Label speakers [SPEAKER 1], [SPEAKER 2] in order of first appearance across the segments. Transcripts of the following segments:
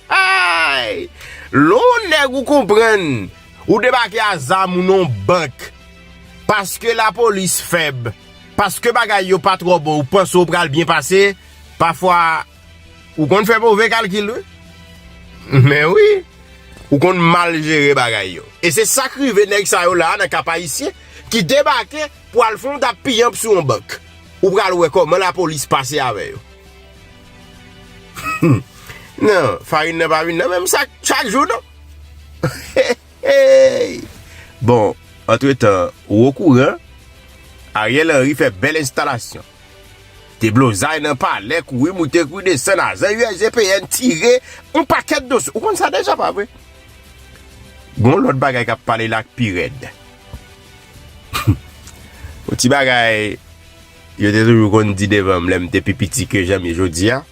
[SPEAKER 1] Hahayy! Lè w on nèg ou konprann, ou debake a zam ou nan w bank. Paske lapolis fèb, paske bagay yo pa twò bon ou panse w pral byen pase, pafwa ou konn fè move kalkil wi. Men wi! Ou konn mal jere bagay yo. E se sa k rive nèg sa yo la a nan Kap Ayisyen ki debake pou al fè yon dap piyanp sou yon bank. Ou pral wè kòman lapolis pase avè yo. Nan, farin nan pa vin nan menm sak chak jou non. Bon, antre tan, ou o kouran, Ariel Henry fè bèl enstalasyon. De blozay nan palè, kouri moute kouri desann, ajan USGPN tire, on pakèt dosye. Ou konn sa deja pa vre? Gon lòt bagay kap pale la k pi rèd. On ti bagay. Yo te toujou konn di devan m lè m te pi piti ke jan m ye jodi a,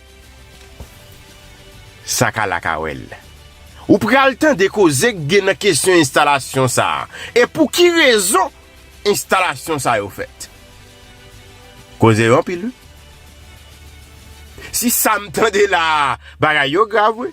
[SPEAKER 1] Sa ka la ka wè l. Ou pral tande koze k gen nan kesyon enstalasyon sa a, e pou ki rezon enstalasyon sa yo fèt. Koze yo anpil wi. Si sa m tande la a, bagay yo grav wi.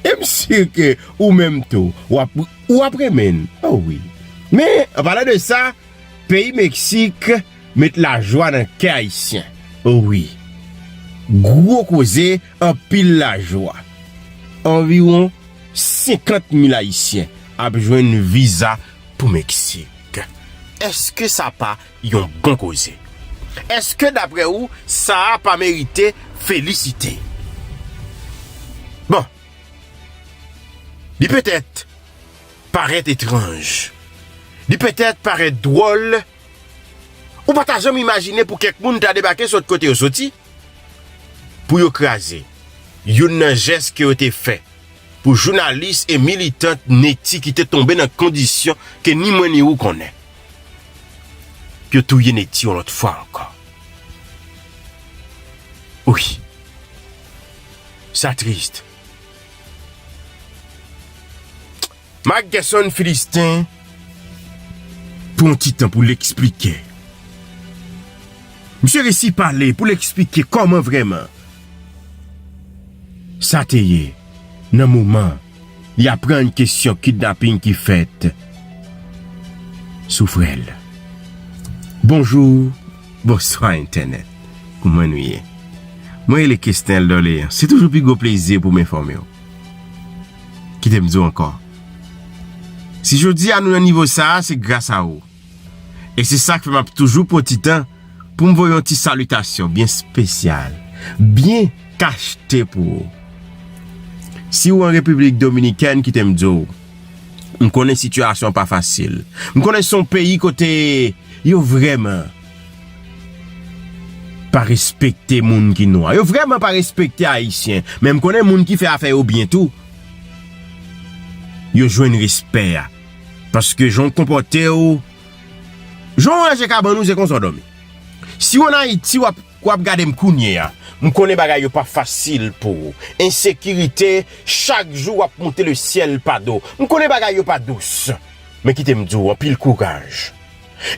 [SPEAKER 1] E m si ke ou menm tou, w ap renmen l. O wi! Men, an palan de sa, peyi Meksik met lajwa nan kè Ayisyen. O wi! Gwo koze, anpil lajwa. Anviwon 50 mil Ayisyen ap jwenn viza pou Meksik. Eske sa pa Yon bon koze. Eske daprè ou saa pa merite felisite? Bon. Li petèt parèt etranj. Li petèt parèt dwòl. Ou pa ta janm imajine pou kèk moun ta debake sot kote yo soti. Pou yo kraze youn nan jès ke yo te fè pou jounalis e militant Netty ki te tonbe nan kondisyon ke ni mwen ni ou konnen. Yo touye Netty yon lòt fwa ankò. Wi. Sa triste. Marc Guerson Philistin pou yon ti tan pou l eksplike. Misye resi pale pou l eksplike kòman vrèman sa te ye nan moman. Li aprann kesyon kidnaping ki fèt sou frè l. Bonjou, bonswa entènèt. Kouman nou ye? Mwen rele Kesnel Dorlean. Se toujou pi gwo plezi pou m enfòme w. Kite m di w ankò, si jodi a nou nan nivo sa a, se gras a ou. E se sa k fè m ap toujou pran ti tan pou m voye yon ti salitasyon byen spesyal, byen kachte pou ou. Si ou an Repiblik Dominikèn, kite m di w, m konnen sitiyasyon an pa fasil. M konnen se yon peyi kote yo vrèman pa respekte moun ki nwa. Yo vrèman pa respekte Ayisyen. Men m konnen moun ki fè afè yo byen tou, yo jwenn respè a. Paske jan w konpòte w, jan w ranje kabann ou se konsa w dòmi. Si w an Ayiti wap wap gade m kounye a, m konnen bagay yo pa fasil pou ou. Ensekirite chak jou wap monte le syèl pa do. M konnen bagay yo pa dous. Men kite m di w anpil kouraj.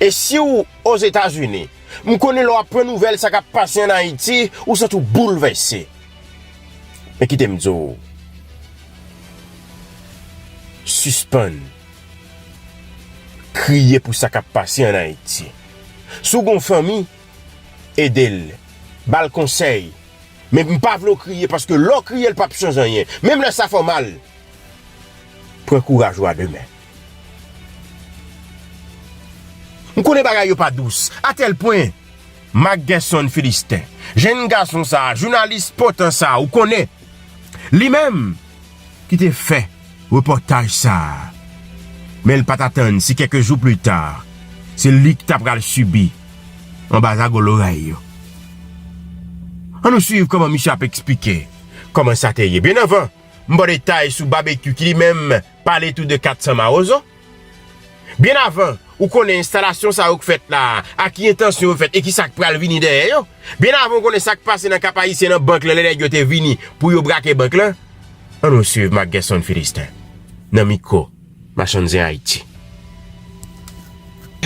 [SPEAKER 1] E si w Ozetazini, m konnen lè w aprann nouvèl sa kap pase an Ayiti, ou santi w boulvèse. Men kite m di w, sispann kriye pou sa k ap pase an Ayiti. Si w gen yon fanmi, ede l, ba l konsèy, men m pa vle w kriye paske lè w kriye l pap chanje anyen, menm lè sa fè w mal. Pran kouraj ou a de men. M konnen bagay yo pa dous atèl pwen. Marc Guerson Philistin, jenn gason sa a, jounalis potan sa a, ou konnen, li menm ki te fè repòtaj sa a, men l pa t atann si kèk jou plita, se li ki t apral sibi anba zago loray yo. An nou suiv kòman misye ap esplike kòman sa te ye. Byennavan, m ba w detay sou Babekyou ki li menm pale tou de 400 mawozo. Byen avan ou konnen enstalasyon sa yo k fèt la a, ak ki entansyon yo fèt e ki sa k pral vini dèyè yo, byen avan ou konnen sa k pase nan Kap Ayisyen nan bank lan lè nèg yo te vini pou yo brake bank lan, an nou swiv Marc Guerson Philistin nan mikwo Machann Zen Ayiti.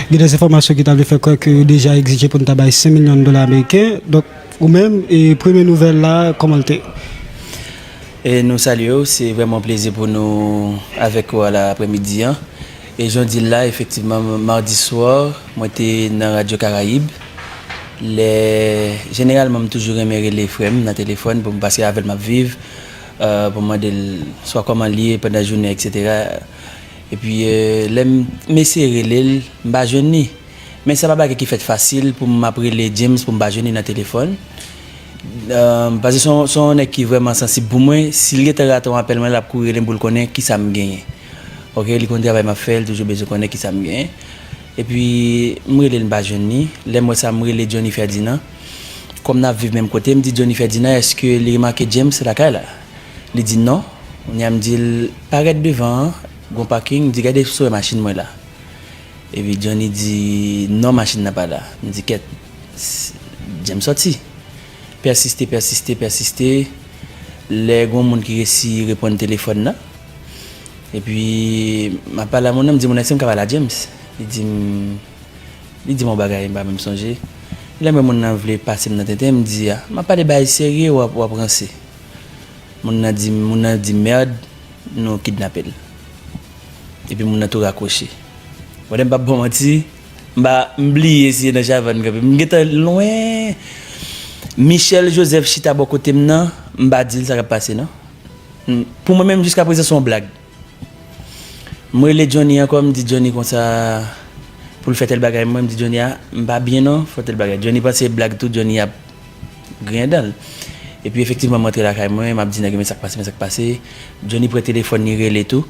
[SPEAKER 2] Gen dè enfòmasyon ki ta vle fè kwè ke yo deja egzije pou n ta bay 5 milyon dola ameriken. Donk, ou menm, premye nouvèl la, kòman l te?
[SPEAKER 3] Nou salye w. Se vrèman yon plezi pou nou avèk ou a la aprèmidi an. E jan w di l la, efektivman, mardi soir, mwen te nan Radio Caraïbes. Lè, jeneralman, m toujou renmen rele frè m nan telefòn pou m, paske avè l m ap viv, pou m mande l swa kòman l ye pandan jounen, eksetera. Epi lè m m eseye rele l, m pa jwenn li. Men se pa bagay ki fèt fasil pou m ap rele James pou m pa jwenn li nan telefòn. Pase se yon se yon nèg ki vrèman sansib pou mwen. Si l gentan rate yon apèl mwen, l ap kouri rele m pou l konnen kisa m genyen. Ok, li konn travay m ap fè, li toujou bezwen konnen kisa m genyen. Epi m rele l m pa jwenn li. Lè m wè sa, m rele Johnny Ferdinand. Kòm n ap viv menm kote, m di Johnny Ferdinand èske li remake James lakay la? Li di non, kounya m di l parèt devan an, gon paking, m di gade si w wè machin mwen la. Epi Johnny di non machin nan pa la, m di kèt, jen m sòti. Pèsiste, pèsiste, pèsiste, lè gon moun ki resi reponn telefòn nan, epi m ap pale a moun nan, m di moun nan èske m ka pale a James? Li di m, li di m yon bagay m pa menm sonje, lè m wè moun nan vle pase m nan tenten, m di a, m ap pale bagay serye w ap ranse. Moun nan di moun nan di merd nou kidnape l. Epi moun nan tou rakwoche. Mwen m pap baw manti m pa m bliye si e nan Chavanne kanpe m gentan lwen Michel Joseph chita bò kote m nan m pa di l sa kap pase non. Pou mwen menm jiska prezan son blag. M rele Johnny ankò m di Johnny konsa pou l fè tèl bagay mwen m di Johnny a m pa byen non fò tèl bagay Johnny panse se blag tou Johnny ap griyen dan l epi efektivman m rantre lakay mwen m ap di nèg yo men sak pase men sak pase Johnny pran telefòn li rele tou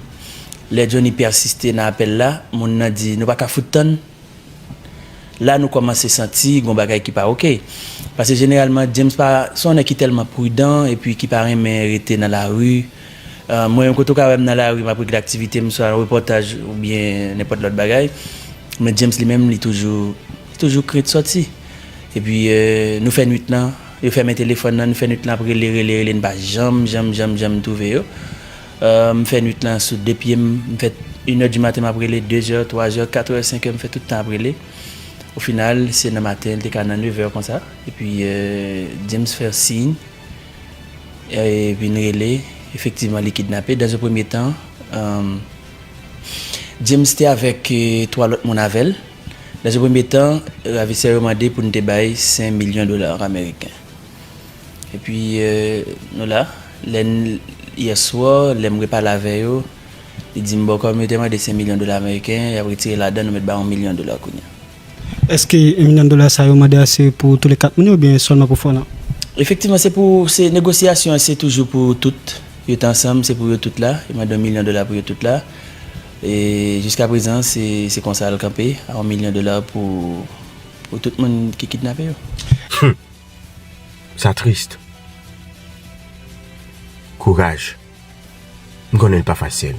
[SPEAKER 3] lè Johnny pèsiste nan apèl la moun nan di nou pa ka fout tann la nou kòmanse santi gon bagay ki pa ok pase jeneralman James pa se yon nèg ki tèlman pridan epi ki pa renmen rete nan lari Mwen menm kote w ka wè m nan lari m ap regle aktivite m swa yon repòtaj oubyen nenpòt lòt bagay men James li menm li toujou li toujou krent sòti epi nou fè nwit lan yo fèmen telefòn lan nou fè nwit lan ap rele rele rele n pa janm janm janm janm twouve yo m fè nwit lan sou de pye m m fè inè di maten m ap rele dezè twazè katrè senkè m fè tout tan ap rele o final se nan maten l te ka nan nevè konsa epi James fè siy. vin rele efektivman li kidnape dans un premye tan James te avèk 3 lòt moun avèl dans un premye tan ravisè yo mande pou nou te bay 5 milyon dola ameriken epi nou la lè yè swa lèm repale avè yo li dim bon kòm yo te mande 5 milyon dola ameriken yap retire ladan nou mèt bay 1 milyon dola kounya. Eske
[SPEAKER 2] 1 milyon dola sa yo mande a se pou tou le 4 moun yo oubyen sèlman pou Fon an? Efektivman se pou,
[SPEAKER 3] se negosyasyon an se toujou pou tout, yo t ansanm se pou yo tout la, yo mande 1 milyon dola pou yo tout la. E jiska prezan se konsa l kanpe a 1 milyon dola pou pou tout moun ki kidnape yo. Humm
[SPEAKER 1] sa triste. Courage. M konnen li pa fasil.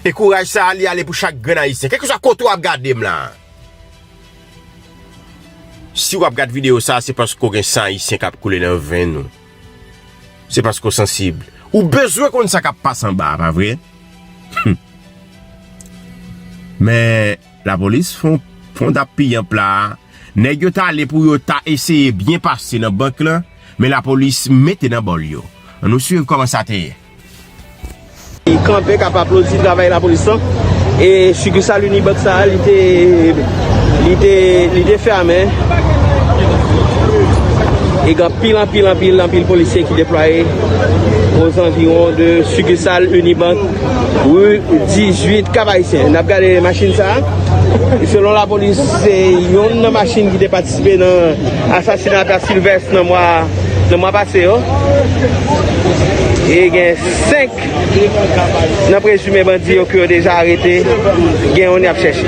[SPEAKER 1] E kouraj sa a li ale pou chak grenn ayisyen. Kèlkeswa kote w ap gade m la. Si w ap gade videyo sa a se paske w gen san ayisyen k ap koule nan venn ou. Se paske w sansib. Ou bezwen konn sa k ap pase anba a pa vre? Hum. Men. La polis fond ap piyanp la a. Nèg yo ta ale pou yo ta eseye byen pase nan bank lan, men la polis mete nan bòl yo. An nou swiv kòman sa te ye.
[SPEAKER 4] kanpe kap aplodi travay lapolis lan e sikisal Unibank sa a li te li te fèmen e gen anpil anpil anpil anpil polisye ki deplwaye o zanviwon de sikisal Unibank. Rue 18 Kap Ayisyen nap gade machin sa ki selon lapolis se yonn nan machin ki te patisipe nan asasina ta Sylvestre nan mwa nan mwa pase yo e gen 5 nan prezime bandi yo ke yo deja arete gen yonn yap chèche.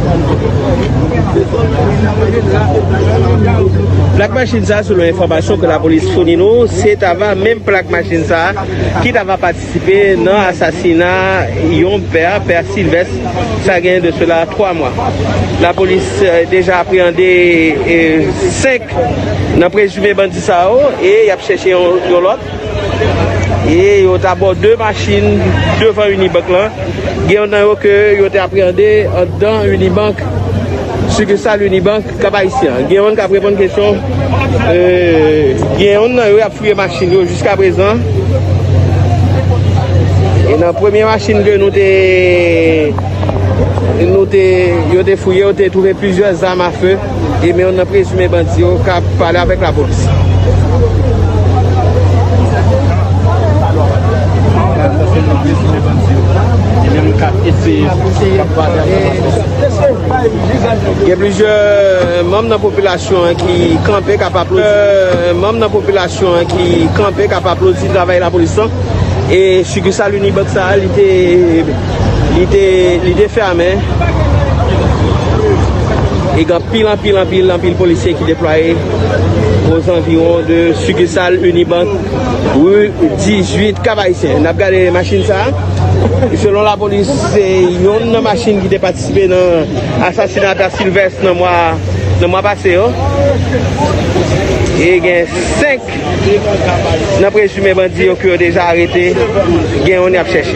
[SPEAKER 4] Plak machin sa selon enfòmasyon ke lapolis founi nou, se ta va menm plak machin sa ki ta va patisipe nan asasina yon pè, pè Silvès, sa gen de sela 3 mwa. Lapolis deja apreyande 5 nan prezime bandi sa yo e yap chèche yon lòt. E yo t abò 2 machin devan Unibank lan. Gen yon nan yo ke yo te apreyande anndan Unibank, sikisal Unibank Kap Ayisyen an. Gen yon k ap reponn kesyon. Gen yon nan yo y ap fouye machin yo jiskaprezan. E nan premye machin ke nou te, yo te fouye, yo te twouve plizyè zam afe. E men yon nan prezime bandi yo k ap pale avèk lapolis. Gen plizyè manm nan popilasyon an ki kanpe k ap aplodi travay lapolis lan. E sikisal Unibank sa a li te... Li te fèmen e gen anpil, anpil, anpil, anpil polisye ki deplwaye ozanviwon de sikisal Unibank ri 18 Kap Ayisyen. N ap gade machin sa a. Selon lapolis, se yon nan machin ki te patisipe nan asasina Ata Silvès nan mwa pase yo. E gen 5 Nan prezime bandi yo ke yo deja arete, gen yon yap chèche.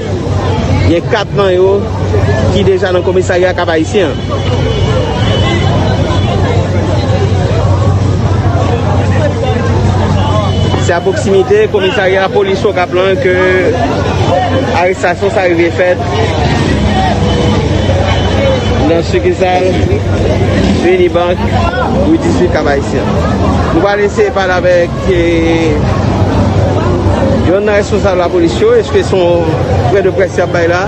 [SPEAKER 4] Gen 4 nan yo ki deja nan komisarya Kap Ayisyen an. Se a pwoksimite komisarya polis Okap lan ke arestasyon sa rive fèt nan sikisal Unibank rue 18 Kap Ayisyen. Nou pral eseye pale avèk. Se yon nan responsab la polis yo, eske se yon pwen de près yap bay la?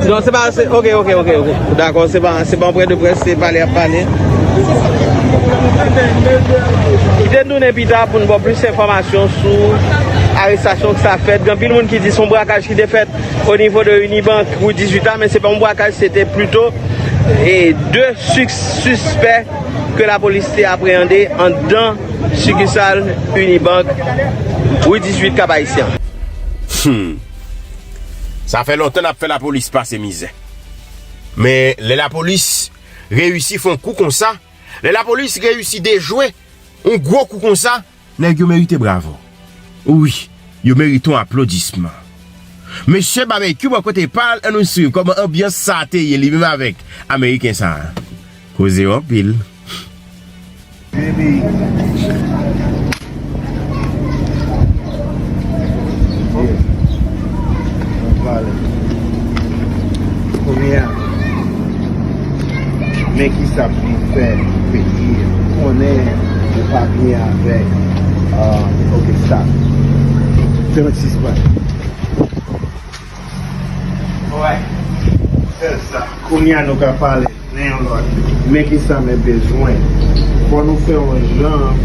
[SPEAKER 4] Non se pa, ok, ok, ok, dakò, se pa yon pwen de près, se pale yap pale. Kite nou nen pita pou nou ba w plis enfòmasyon sou arestasyon sa fèt, gen anpil moun ki di se yon brakaj ki te fèt. O nivo de Unibank pou 18 an, men se pa yon brakaj, se te plito 2 sispè ke la polis te apreyande andan sikisal Unibank rue 18 Kap Ayisyen. Humm.
[SPEAKER 1] Sa fè lontan nap fè la polis pase mizè. Men lè la polis reyisi fon kou konsa, lè la polis reyisi dejwe yon gwo kou konsa, Nèg yo merite bravo wi yo merite yon aplodisman mesye babekyou bò kote pal an nou swiv kòman anbyans sa te ye li menm avèk ameriken sa koze yo anpil wi.
[SPEAKER 5] Men kisa pou nou fè pou peyi an. Ou konnen ou pa byen avèk ok stop 36 bal. Alright fè sa. Kounye a nou ka pale nan yon lòt. Men kisa men bezwen. Fò nou fè yon jan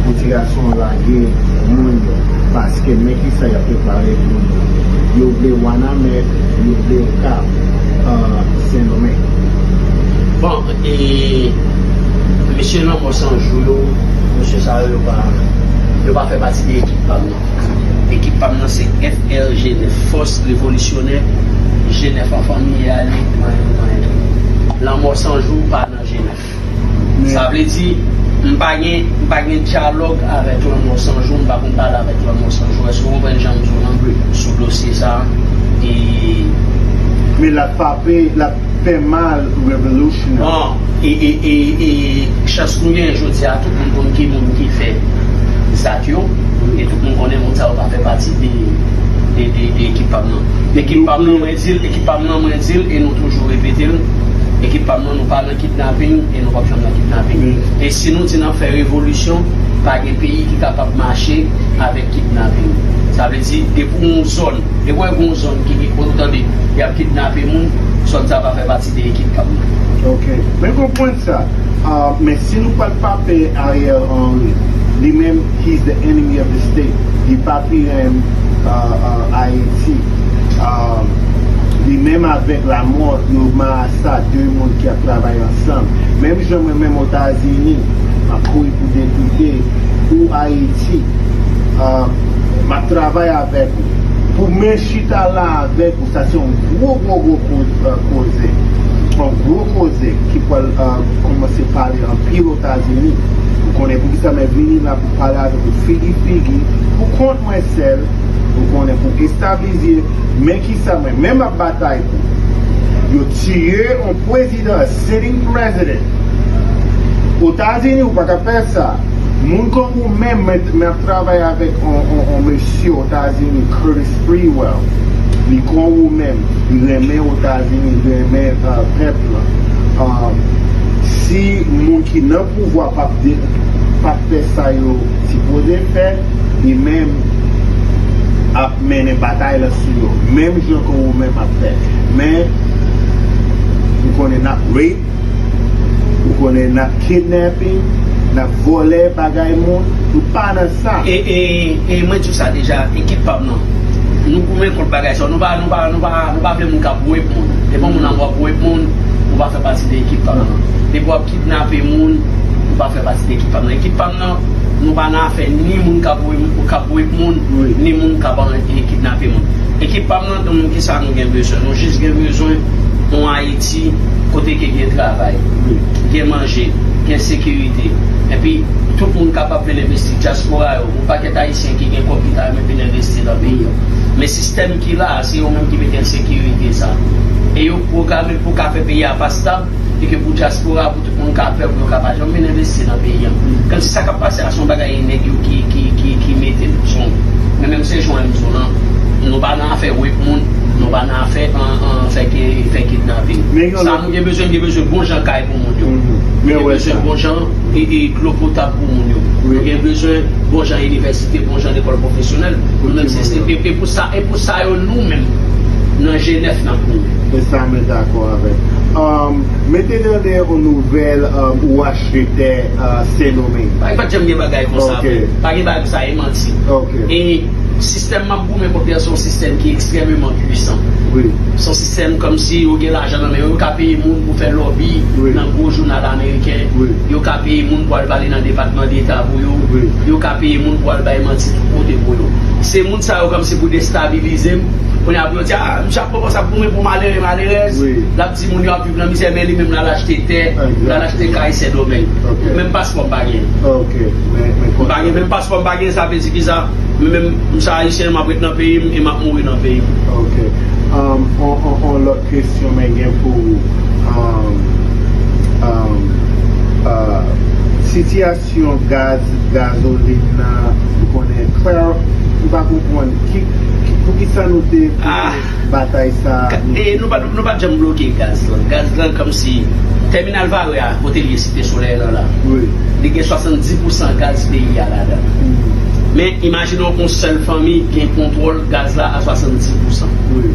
[SPEAKER 5] pou ti gason an lage moun yo. Paske men kisa yap prepare pou nou. Yo vle wanament yo vle yon kap sendomeng.
[SPEAKER 6] Bon e mesye lanmò san jou yo mesye sa yo yo pa fè pati de ekip pam nan ekip pam nan se FRG 9 fòs revolisyonè G 9 anfanmi ye ale nan yon nan yon lanmò san jou pa nan G 9. Sa vle di, m pa gen, m pa gen dyalòg avèk Lanmò San Jou, m pa konn pale avèk Lanmò San Jou. Èske w konprann jan m di w lan, sou dosye sa a? E.
[SPEAKER 5] Men l ap pape, l ap fè mal Revolution an. Bon, e, e,
[SPEAKER 6] e, e, chans nou genyen jodi a, tout moun konn ki moun ki fè zak yo, e tout moun konnen moun sa yo pa fè pati de, de, de, de ekip pa m nan. Ekip pa m nan, mwen di l, ekip pa m nan, mwen di l, e nou toujou repete l, ekip pa m. Non nou pa nan kidnaping e nou pap janm nan kidnaping e si nou di nap fè revolisyon pa gen peyi ki kapab mache avèk kidnaping sa vle di depi w yon zòn depi wè gon zòn ki gen ou tande yap kidnape moun zòn sa pa fè pati de ekip kap nan. Ok men konprann
[SPEAKER 5] sa men si nou pral pa pè Ariel Henry li menm he is the enemy of the state li pa pi renmn Ayiti li menm avèk lamò yo ma. Sa de moun ki ap travay ansanm. Menm jan mwen menm otazini map kouri pou depite ou ayiti map travay avèk ou pou mwen chita la avèk ou sa se yon gwo gwo gwo koze yon gwo koze ki pwal kòmanse pale anpil otazini ou konnen poukisa mwen vini la pou pale avèk ou figi figi pou kont mwen sèl ou konnen pou establize men kisa mwen menm ap batay Yo tiye yon prezidan a sitting president otazini ou paka fè sa moun kon ou menm mwen ap travay avèk yon mesye otazini Curtis Sprewell li kon ou menm li renmen otazini li renmen pèp lan si moun ki nan pouvwa pap fè sa yo sipoze fè li menm ap mennen batay lan sou yo menm jan ke ou menm ap fè men ou konnen nap rape ou konnen nap kidnapping nap vòlè bagay moun nou pa nan sa. E mwen
[SPEAKER 6] diw sa deja ekip pam nan nou goumen kont bagay sa yo nou pa nou pa nou pa nou pa vle moun kap rape moun depi moun ap wap rape moun ou pa fè pati de ekip pam nan depi wap kidnape moun ou pa fè pati de ekip pam nan ekip pam. Nou pa nan afè ni moun kap rape moun ni moun kap kidnape moun. Ekip pam nan di nou kisa nou gen bezwen. Nou jis gen bezwen yon Haiti kote ke gen travay, gen manje, gen sekirite. Epi tout moun kapab vin envesti. Diaspora yo, yon pakèt Ayisyen ki gen kòb ki ta renmen vin envesti nan peyi an. Men sistèm ki la a se yo menm ki mete ensekirite sa. E yo programe pou ka fè peyi a pa stab. Li gen pou dyaspora, pou tout moun ka pè pou yo ka pa janm vin envesti nan peyi an. Kantite sa k ap pase a se yon bagay nèg yo ki mete l. Son Men menm se Joan di w lan, nou pa nan afè rep moun, nou pa nan afè fè kidnaping. Sa nou gen bezwen, nou gen bezwen bon jan kay pou moun yo. Nou gen bezwen bon jan dlo potab pou moun yo. Nou gen bezwen bon jan inivèsite, bon jan lekòl pwofesyonèl. E pou sa yo nou menm nan jenès. Tankou e sa mwen dakò
[SPEAKER 5] avèk. Mete nan de on nouvèl ou achte tè Sen Domeng. Bagay pat janm gen bagay
[SPEAKER 6] konsa vre. Pa gen bagay konsa e manti. E sistèm map goumen kont li a se yon sistèm ki ekstrèmeman pwisan. Se yon
[SPEAKER 5] sistèm
[SPEAKER 6] kòmsi yo gen lajan nan men yo. Yo ka peye moun pou fè lòbi nan gwo jounal ameriken. Yo ka peye moun pou al pale nan depatman deta pou yo. Yo ka peye moun pou al bay manti tout kote pou yo. Se moun sa yo kòmsi pou destabilize m. Kounye a pou yo di a. Ann chak fwa konsa ap goumen pou malere malerèz, lap di moun yo ap viv nan mizè men li menm lal achte tè, lal achte kay sendomeng. Menm paspò m pa genyen. M pa gen menm paspò m pa genyen sa vle di ki sa? Mwen menm m se ayisyen map ret nan peyi m e map mouri nan peyi m. Ok.
[SPEAKER 5] On lòt kesyon men gen pou ou. Sitiyasyon. syon gaz gazolin nan ou konnen Claire m pa konpwann ki poukisa nou te pote batay sa e nou pat nou pat
[SPEAKER 6] janm bloke gaz lan gaz lan kòmsi tèminal vare a kote l ye site solèy lan la wi li gen 70 pousan gaz peyi a ladan men imajine w on sèl fanmi gen kontwòl gaz la a 70 pousan wi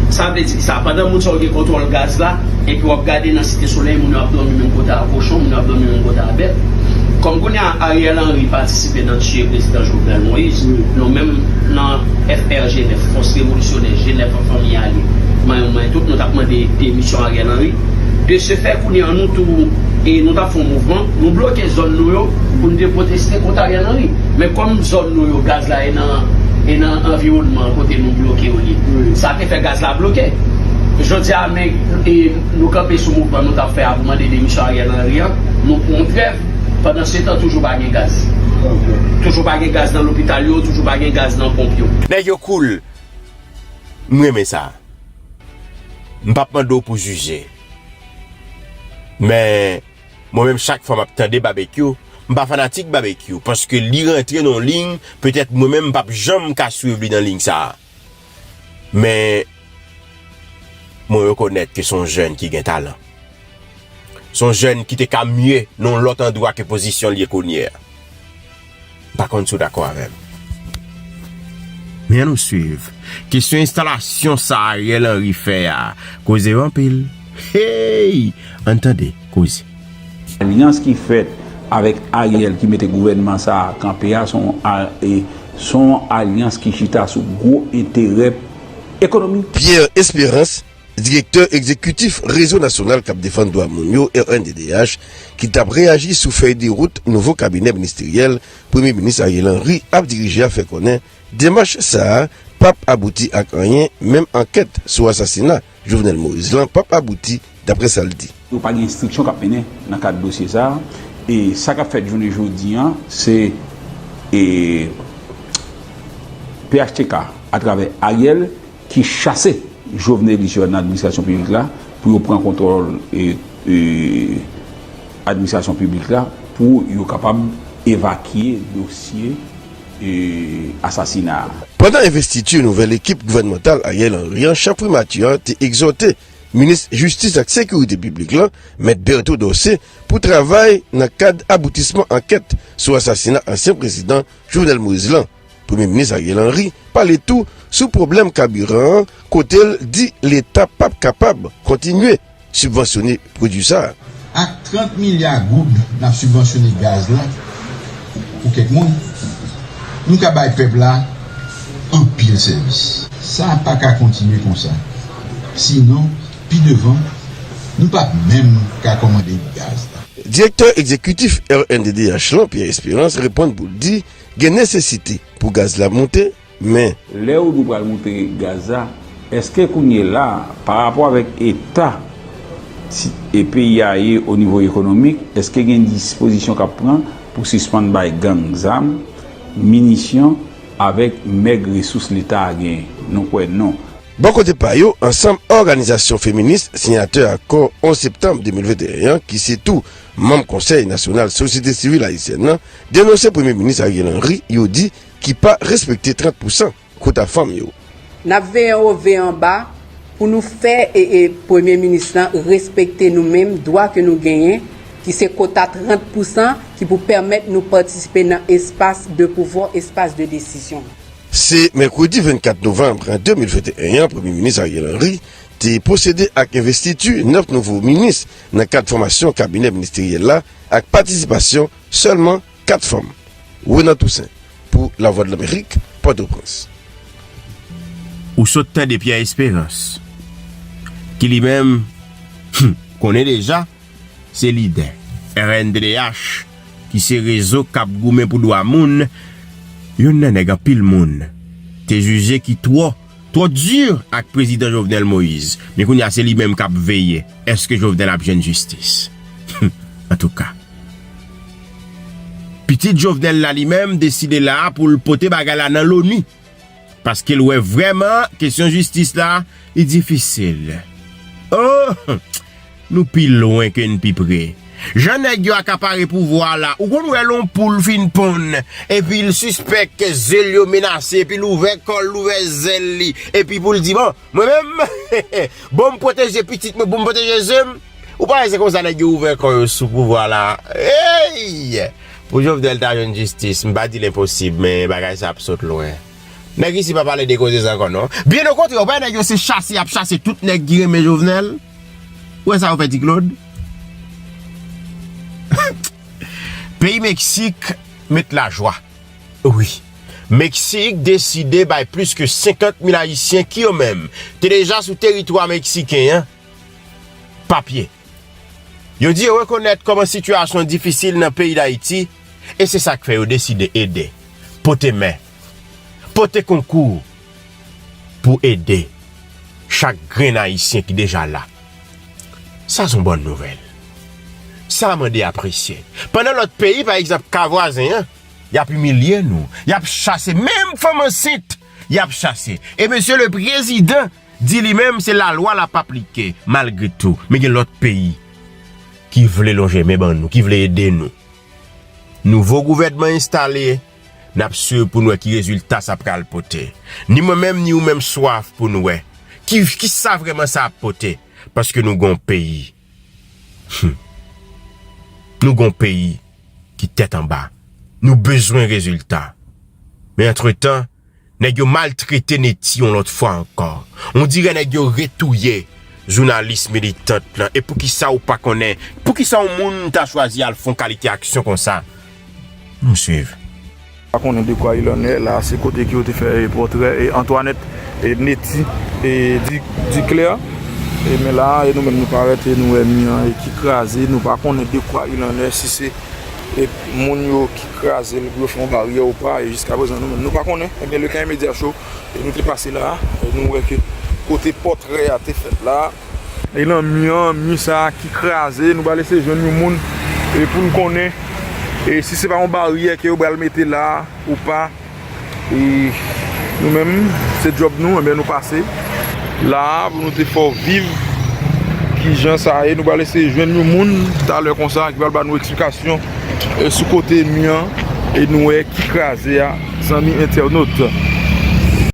[SPEAKER 6] sa vle di. Sa pandan moun sa yo gen kontwòl gaz la, epi wap gade nan site solèy moun yo ap dòmi menm kote a kochon, moun yo ap dòmi menm kote a bèt. Kòm kounye a Ariel Henry patisipe nan tiye prezidan Jovenel Moïse, nou menm nan FRG 9, Fòs Revolisyonè Jenèf an Fanmi Ale Manyen pou Manyen Tout, nou tap mande demisyon Ariel Henry. De se fè kounye a nou tou e nou tap fè yon mouvman, nou bloke zòn nou yo pou nou te pwoteste kont Ariel Henry. Men kòm zòn nou yo gaz la e nan e nan anviwònman kote nou bloke yo ye. Sa. fè gaz la bloke. Jodi a men nou kanpe sou mouvman nou tap fè a pou mande demisyon Ariel Henry an, nou pou yon trèv, pandan se tan toujou pa gen gaz. Toujou pa gen gaz nan lopital yo, toujou pa gen gaz nan ponp yo. Nèg yo cool
[SPEAKER 1] m renmen sa. M pap mande w pou jije. Men mwen menm chak fwa map tande Babekyou, m pa fanatik Babekyou paske li rantre nan yon ligne petèt mwen menm m pap janm ka swiv li nan ligne sa. Men mwen rekonèt ke son jèn ki gen talan. Son jèn ki te ka mye nan lòt andwa ke pozisyon li ye kounye a. M pa konn si w dakò avè m. Men an nou swiv. Kesyon enstalasyon sa Ariel Henry fè a koze anpil. Hey! Ann tande koze. Alyans
[SPEAKER 7] ki fèt avèk Ariel ki mete gouvènman sa a kanpe a son yon alyans ki chita sou gwo enterè ekonomik. Pierre
[SPEAKER 8] Espérance, direktè egzekitif Rezo Nasyonal k ap Defann Dwa Moun yo, rnddh, ki t ap reyaji sou fèy de wout nouvo kabinè ministeryèl Premye Minis Ariel Henry ap dirije a fè konnen demach sa a p ap abouti ak anyen menm ankèt sou asasina Jovenel Moïse lan pap abouti, daprè sa l di. Yo pa gen enstriksyon k ap
[SPEAKER 7] mennen nan kad dosye sa a. E sa k ap fèt jounen jodi an, se e phtk atravè Ariel ki chase jovenelis yo nan administrasyon piblik la pou yo pran kontwòl e e administrasyon piblik la pou yo kapab evakye dosye asasina a. Pandan envestiti
[SPEAKER 8] nouvèl ekip gouvènmantal Ariel Henry an, Chan Primati an te egzòte Minis Jistis ak Sekirite Piblik lan, Mèt Berto Dorcé, pou travay nan kad aboutisman ankèt sou asasina ansyen prezidan Jovenel Moïse lan. Premye Minis Ariel Henry pale tou sou pwoblèm kabiran an kote l di leta pap kapab kontinye sibvansyone pwodui sa a. Ak 30
[SPEAKER 9] milya goud n ap sibvansyone gaz la pou kèk moun, nou ka bay pèp la anpil sèvis. Sa pa ka kontinye konsa, sinon pi devan nou pap menm ka kòmande gaz la. Direktè
[SPEAKER 8] egzekitif rnddh lan, Pierre Espérance, reponn pou l di gen nesesite pou gaz la monte. Men. Lè ou di w pral
[SPEAKER 7] moute Gaza, eske kounye la a, pa rapò avèk eta e peyi a ye o nivo ekonomik, eske gen dispozisyon k ap pran pou sispann bay gang zam, minisyon avèk mèg resous Leta a genyen? Nou kwè non. Bò kote pa
[SPEAKER 8] yo, ansanm òganizasyon feminis siyatè akò 11 septanm 2021 an ki se tou manm Konsèy nasyonal sosyete sivil ayisyèn nan denonse Premye Minis Ariel Henry, yo di Ki pa respekte 30 pousan kota fanm yo. Nap veye
[SPEAKER 10] wo veye anba pou nou fè ee premye minis lan respekte nou menm dwa ke nou genyen ki se kota 30 pousan ki pou pèmèt nou patisipe nan espas de pouvwa, espas de desizyon. Se mèkredi
[SPEAKER 8] 24 novanb 2021 an premye minis Ariel Henry te pwosede ak envestiti 9 nouvo minis nan kad fòmasyon kabinè ministeryèl la ak patisipasyon sèlman 4 fanm, Renan Toussaint pou Lavwadlamerik, Pòtoprens.
[SPEAKER 1] Ou sot tande Pierre Esperance, ki li menm, hum, konnen deja, se lidè rnddh, ki se rezo k ap goumen pou dwa moun, youn nan nèg anpil moun te jije ki twò. Twò dur ak prezidan Jovenel Moise men kounye a se li menm kap veye eske Jovenel ap jwenn jistis humm antouka pitit Jovenel la li menm deside la poul pote bagay la nan loni paskel wè vrèman kesyon jistis la li difisil ooh. Nou pi lwen ke n pi pre. Jan nèg yo akapare pouvwa a la, ou konn wè lè yon poul fin ponn epi l sispèk ke ze l yo menase epi l ouvè kò l, l ouvè zèl li epi pou l di bon, mwen menm bon m pwoteje pitit mwen, bon m pwoteje ze m. Ou pa wè se konsa nèg yo ouvè kò yo sou pouvwa la a. Eyy! Pou Jovenel ta jwenn jistis, m pa di l enposib men bagay sa ap sot lwen. Nèg isi pa pale de koze sa ankò non. Byen okontrè, ou pa wè nèg yo se chase y ap chase tout nèg ki renmen Jovenel. Ou wè sa yo fè ti Claude? Peyi Meksik met lajwa. Wi. Meksik deside bay plis ke 50 mil ayisyen ki yo menm te deja sou teritwa meksiken an papye. Yo di yo rekonèt kòman sitiyasyon difisil nan peyi Dayiti e se sa k fè yo deside ede, pote men. Pote konkou ou pou ede chak grenn Ayisyen ki deja la. Sa son bòn nouvèl. Sa mande apresye. Pandan lòt peyi, pa egzanp ka vwazen an, y ap imilye nou, y ap chase menm fanm ansent, y ap chase. E mesye le prezidan di li menm se lalwa l ap aplike malgre tou. Men gen lòt peyi ki vle lonje men ban nou, ki vle ede nou. Nouvo gouvènman enstale. N ap swiv pou n wè ki rezilta sa pral pote. Ni mwen menm ni ou menm swaf pou n wè ki sa vrèman sa ap pote. Paske nou gen yon peyi. Hum. Nou gen yon peyi ki tèt anba. Nou bezwen rezilta. Men antretan. Nèg yo maltrete Netty yon lòt fwa ankò. On dirè nèg yo retouye jounalis militant lan. E poukisa ou pa konnen? Poukisa yon moun ta chwazi al fon kalite aksyon konsa? Nou swiv. Pa konnen
[SPEAKER 11] de kwa il en est la. Se kote ke yo te fè pòtrè Antoinette et Netty Duclaire. E men la a, e nou menm nou parèt e nou wè mi an ki kraze. Nou pa konnen de kwa il en est, si se. Et moun yo ki kraze l pou yo fè yon baryè ou pa e jiska prezan nou menm nou pa konnen e byen le Kayen Media Show e nou te pase la e nou wè ke kote pòtrè a te fèt la e nan mi an mi sa ki kraze nou pral eseye jwenn yon moun e pou n konnen e si se pa yon baryè ke yo pral mete la ou pa. E nou menm se djòb nou enben nou pase la pou nou te fè w viv kijan sa ye. Nou pral eseye jwenn yon moun talè konsa ki pral ba nou eksplikasyon sou kote mi an e nou wè ki kraze a zanmi entènot.